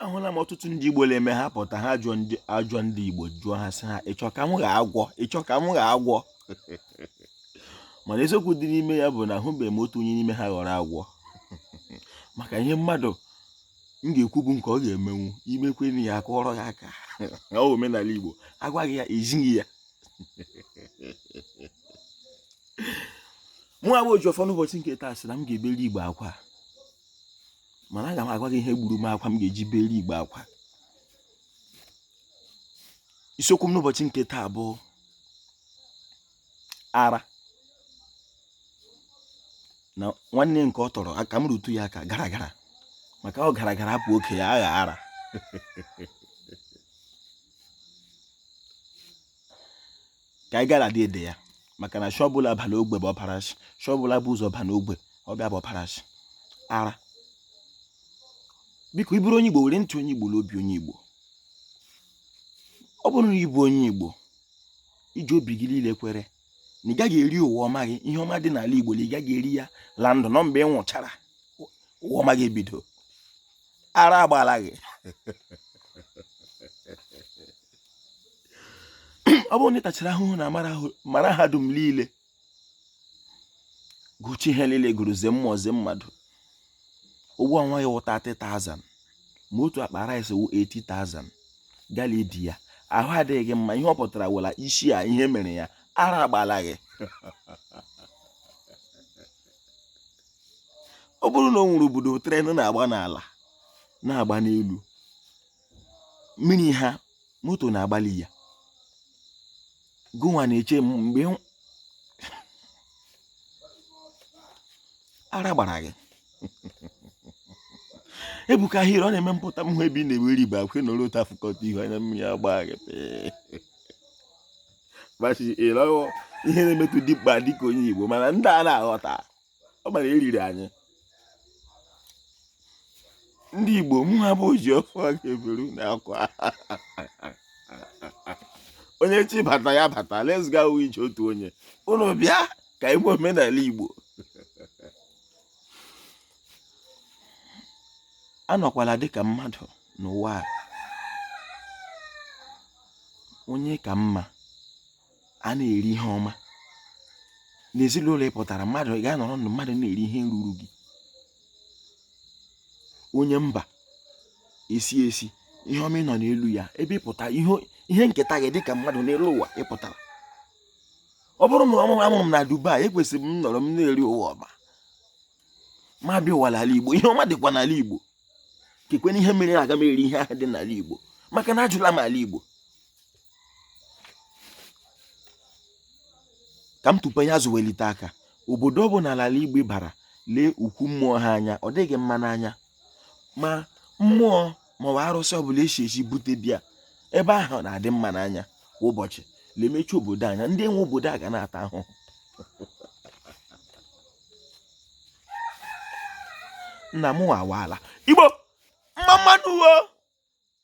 ahụla m ọtụtụ ndị Igbo na-eme ha pụta ha ajụọ ndị Igbo jụọ ha sị ha ị chọ ka m ghọọ agwọ ị chọ ka m ghọọ agwọ mana eziokwu dị n'ime ya bụ na ahụbeghị m otu onye n'ime ha ghọrọ agwọ maka ihe mmadụ ga-ekwu bụ nke ọ ga-emenwu i mekwenụ ya a kụọrọ ya aka ọ omenala Igbo agwaghị ya ezighị ya mụwa bụ Ojiọfọ n'ụbọchị nke taa sị na m ga-ebere Igbo akwa mana aga m agwa gị ihe gburu m akwa m ga-eji beri Igbo akwa isiokwu m n'ụbọchị nke taa bụ ara na nwanne nke ọ tọrọ ka m rụtụ ya aka garagara maka ọ garagara bụ oke ya agha ara ka anyị gara dị ede ya maka na shị ọbụla bala ogbe bụ ọpara shị shị ọbụla bu ụzọ ba n'ogbe ọbịa bụ ọpara shị ara biko ị bụrụ onye igbo were ntị onye igbo n'obi onye igbo ọ bụrụ na ị bụ onye igbo i ji obi gị niile kwere na ị gaghị eri ụwa ọma gị ihe ọma dị n'ala igbo na ị gaghị eri ya la ndụ na ọ mgbe ị nwụchara ụwa ọma gị ebido ara agbala gị ọ bụrụ na ị tachara ahụhụ na mahadum niile gụchaa ihe niile gụrụ zie mmụọ zie mmadụ ụgwọ ọnwa gị wụ 30,000 ma otu akpa rice wụ 80,000 gị ala-edi ya ahụ adịghị gị mma ihe ọ pụtara wụ la isi a ihe mere ya ara agbala gị ọ bụrụ na o nwere obodo tren na-agba n'ala na-agba n'elu mmiri ha moto na-agba la ya gụnwa na-eche mgbe ara gbara gị ebuka ahịrị ọ na-eme m pụta m hụ ebe ị na-ewe riba akwe na olu ụta fụkọta ihu anya mmiri agba gị ihe na-emetụ dịkpa dịka onye igbo mana ndị a na-aghọta ọ bụ la e riri anyị ndị Igbo mụwa bụ Ojiọfọ ga-ebere ụnụ akwa onye chọ ịbata ya bata let's go ije otu onye ụnụ bịa ka e mee omenala Igbo anọkwala dịka mmadụ n'ụwa a onye ka mma a na-eri ihe ọma n'ezinụlọ ị pụtara mmadụ ị ga-anọrọ ndụ mmadụ na-eri ihe ruru gị onye mba esi esi ihe ọma ị nọ n'elu ya ebe ị pụta ihe nketa gị dịka mmadụ n'elu ụwa ị pụtara ọ bụrụ na ọ mụ a mụrụ m na Dubai ekwesịrị m nọrọ m na-eri ụwa ọma ma bịa ụwa n'ala Igbo ihe ọma dịkwa n'ala Igbo kekwanụ ihe mere aga m eri ihe ahụ dị n'ala Igbo maka na ajụla m ala Igbo ka m tupu ya azụ welite aka obodo ọ bụla n'ala Igbo bara lee ukwu mmụọ ha anya ọ dịghị mma n'anya ma mmụọ maọbụ arụsị ọbụla e si ezi bute bịa ebe ahụ na-adị mma n'anya kwa ụbọchị lemechi obodo anya ndị nwe obodo a ga na-ata ahụhụ nna m wa ala Igbo mma mma nụ wo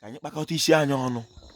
ka anyị kpakọta isi anyị ọnụ